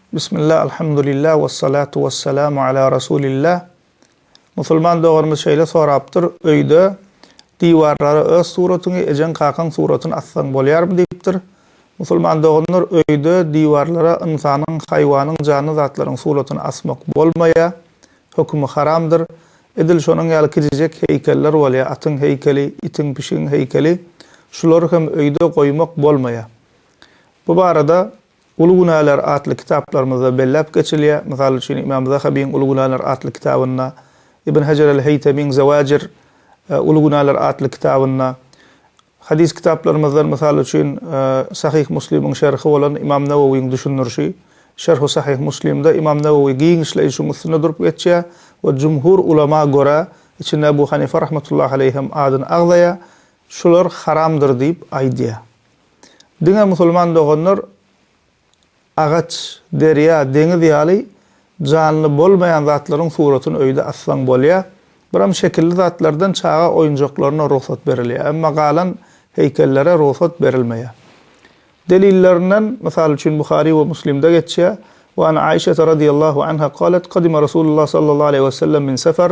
Bismillah Alhamdulillah Wessalatu wessalamu ala Rasulillah Musulman doganymyz şeýle sorapdyr, Öýde diwarlara öz suratyňy, ejeň-kakaň suratyny assaň bolýarmy? diýipdir. Musulman doganlar, öýde diwarlara ynsanyň, haýwanyň, janly zatlaryň suratyny asmak bolmaýar. Hökümi haramdyr. Edil şonuň ýaly kiçijek heýkeller bolýar, atyň heýkeli, itiň, pişigiň heýkeli. Şulary hem öýde goýmak bolmaýar. Bu barada Uly günäler atly kitaplarymyzda belläp geçilýär. Mysal üçin, Ymam Zahabyň Uly günäler atly kitabynda, Ibn Hejer el-Heýtemiň Zewajir, Uly günäler atly kitabynda, hadys kitaplarymyzdan, mysal üçin, Sahyh Muslimiň şerhi bolan Ymam Nawawyň düşündirişi, Şerhu Sahyh Muslimde Ymam Nawawy giňişleýin şuň üstünde durup geçýär we jumhur ulama görä, içinde Ebu Hanife rahmetullahi aleýh hem adyny agzaýar, şular haramdyr diýip aýdýar. Diňe musulman doganlar agaç, derýa, deňiz ýaly janly bolmaýan zatlaryň suratyny öýde assaň bolýa. Biram şekilli zatlardan çaga oýunjaklaryna rugsat berilýä, emma galan heýkellere rugsat berilmeýä. Delillerinden, mysal üçin, Buhary we Muslimde geçýä, Wa an Aişete radiyallahu anha qalet, Qadima Rasulullah sallallahu aleyhi we sellem min sefer,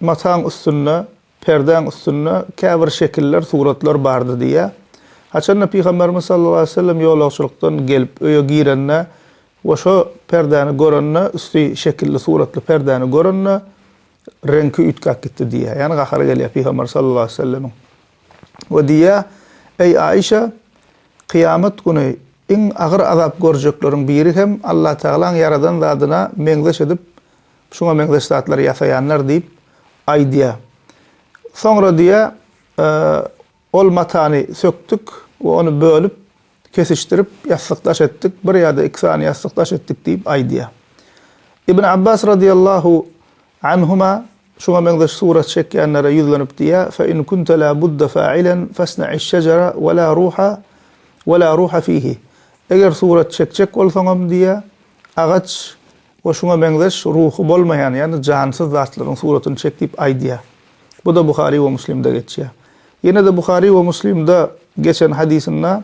Mataň üstünde, perdäň üstünde käbir şekiller, suratlar bardy diýýär. Haçan-da Pygamberimiz sallallahu aleýhi we sellem ýolagçylykdan gelip, öýe girende we şo perdäni görende, üsti şekilli, suratly perdäni görende, reňki üýtgäp gitdi diýýär. Ýagny gahary gelýär Pygamber sallallahu aleýhi we sellemiň. We diýýär, Eý, Aişa! Kyýamat güni iň agyr azap görjekleriň biri hem Allatagalaň ýaradan zadyna meňzeş edip, Şuňa meňzeş zatlary ýasaýanlar diýip aýdýar. Soňra diýýär, Ol matany sökdük we ony bölüp, kesişdirip, ýassyk daş etdik, bir ýa-da iki sany ýassyk daş etdik diýip aýdýar. Ibn Abbas radyýallahu anhuma şuňa meňzeş surat çekýänlere ýüzlenip diýýär, Fe in kunte la budda fa'ilen fesna'iş şejere we la ruha we la ruha fihi. Eger surat çekjek bolsaňam diýýär, agaç We şuňa meňzeş ruhy bolmaýan, ýagny jansyz zatlaryň suratyny çek diýip aýdýar. Bu-da Buhary we Muslimde geçýär. Ýene-de Buhary we Muslimde geçen hadysynda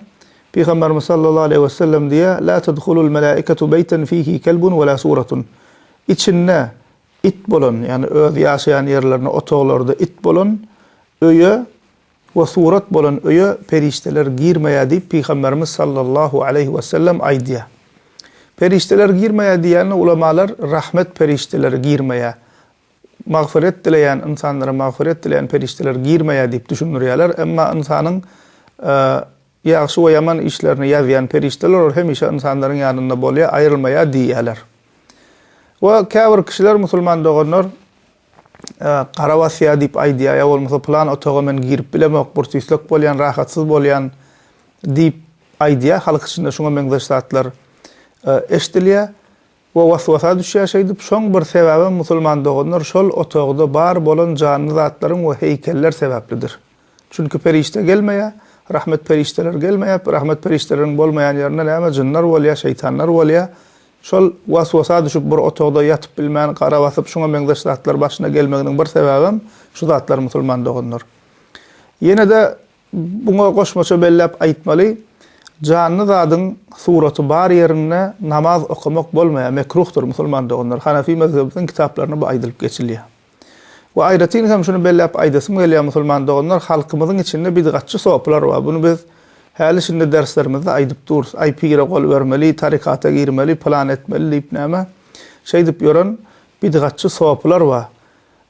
Pygamberimiz sallallahu aleýhi wesellem diýýär, La tedhulul melaiketu beýten fihi kelbun we la suratun. Içinde it bolan, ýagny öz ýaşaýan ýerlerinde, otaglarda it bolan öýe We surat bolan öýe perişdeler girmeýär diýip Pygamberimiz sallallahu aleýhi wesellem aýdýar. Perişdeler girmeýär diýende ulamalar rahmet perişdeleri girmeýär, magfyret dileýän ynsanlara magfyret dileýän perişdeler girmeýär diýip düşündirýärler, emma ynsanyň ýagşy we ýaman işlerini ýazýan perişdeler olar hemişe ynsanlaryň ýanynda bolýar, aýrylmaýar diýýärler. We käbir kişiler musulman doganlar Gara basýa diýip aýdýa, ýa bolmasa pylan otaga men girip bilemok, burs-üýsek bolýan, rahatsyz bolýan diýip aýdýa, halk içinde şuňa meňzeş zatlar eşidilýä we was-wasa düşýä şeýdip. Şoň bir sebäbem musulman doganlar şol otagda bar bolan janly zatlaryň we heýkeller sebäplidir. Çünki perişde gelmeýä, rahmet perişdeler gelmeýä, rahmet perişdeleriň bolmaýan ýerinde näme jynlar bolýa, şeýtanlar bolýa. Şol was-wasa düşüp bir otagda ýatyp bilmän, gara basyp şuňa meňzeş zatlar başyna gelmeginiň bir sebäbem şu zatlar musulman doganlar. Ýenede buňa goşmaça belläp aýtmaly, janly zadyň suraty bar ýerinde namaz okamak bolmaýa, mekruhdyr musulman doganlar. Hanefi mezhebimiziň kitaplaryna bu aýdylyp geçilýä. We aýratyn hem şuny belläp aýdasym gelýär musulman doganlar halkymyzyň içinde bidgatçy sopylar bar buny biz häli şindi derslerimizde aýdyp durus aý pire gol bermeli tarykata girmeli pylan etmeli diýip näme şeýdip ýören bidgatçy sopylar bar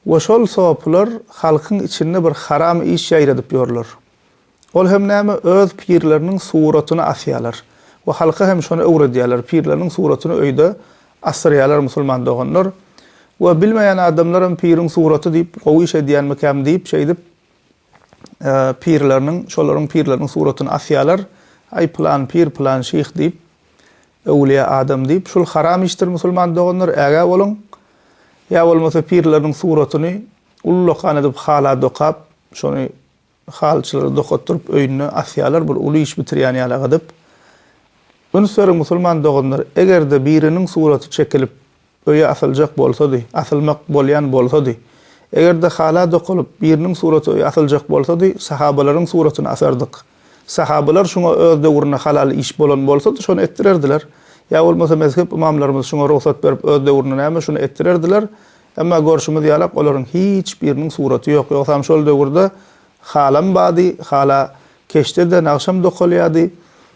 we şol sopylar halkyň içinde bir haram iş ýaýradyp ýörler Ol hem näme, öz pirleriniň suratyny asýarlar we halka hem şony öwredýärler, pirleriniň suratyny öýde asdyrýarlar musulman doganlar we bilmeýän adamlaram piriň suraty diýip gowy iş edýänmikäm diýip şeýdip pirleriniň, şolaryň pirleriniň suratyny asýarlar, aý pylan pir, pylan şyh diýip, öwlýä adam diýip, şul haram işdir musulman doganlar, ägä boluň, ýa bolmasa pirleriniň suratyny ullakan edip hala dokap, şony Halyçylary dokatdyryp öýünde asýarlar bir uly iş bitirýän ýaly gydyp. Üns beriň musulman doganlar egerde biriniň suraty çekilip öýe asyljak bolsady, asylmak bolýan bolsady, egerde hala dokalyp biriniň suraty öýe asyljak bolsady sahabalaryň suratyny asardyk. Sahabalar şuňa öz döwründe halal iş bolan bolsady şony etdirerdiler. Ýa bolmasa mezhep ymamlarymyz şuňa rugsat berip öz döwründe näme şuny etdirerdiler. Emma görşümiz ýalak olaryň hiç biriniň suraty ýok. Ýogsam şol döwürde halam bady, hala keşde-de nagşam dokalýady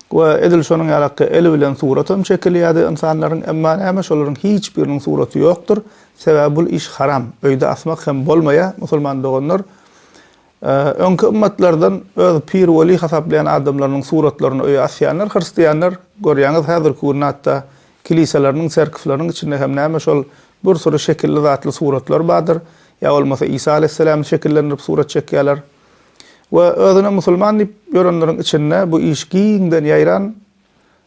we edil şonuň ýalakgy el bilen suratam çekilýädi ynsanlaryň, emma näme şolaryň hiç biriniň suraty ýokdur, sebäbi bul iş haram, öýde asmak hem bolmaýa, musulman doganlar, Öňki ymmatlardan öz pir-weli hasaplaýan adamlarynyň suratlaryny öýe asýanlar hristianlar, görýäňiz, häzirki günde hatda kiliseleriniň, çerkewleriniň içinde hem näme şol bir süri şekilli-zatly suratlar bardyr, ýa bolmasa Isa Aleyhisselämi şekillendirip surat çekýärler. We özüne musulman diýip ýörenleriň içinde bu iş giňden ýaýran,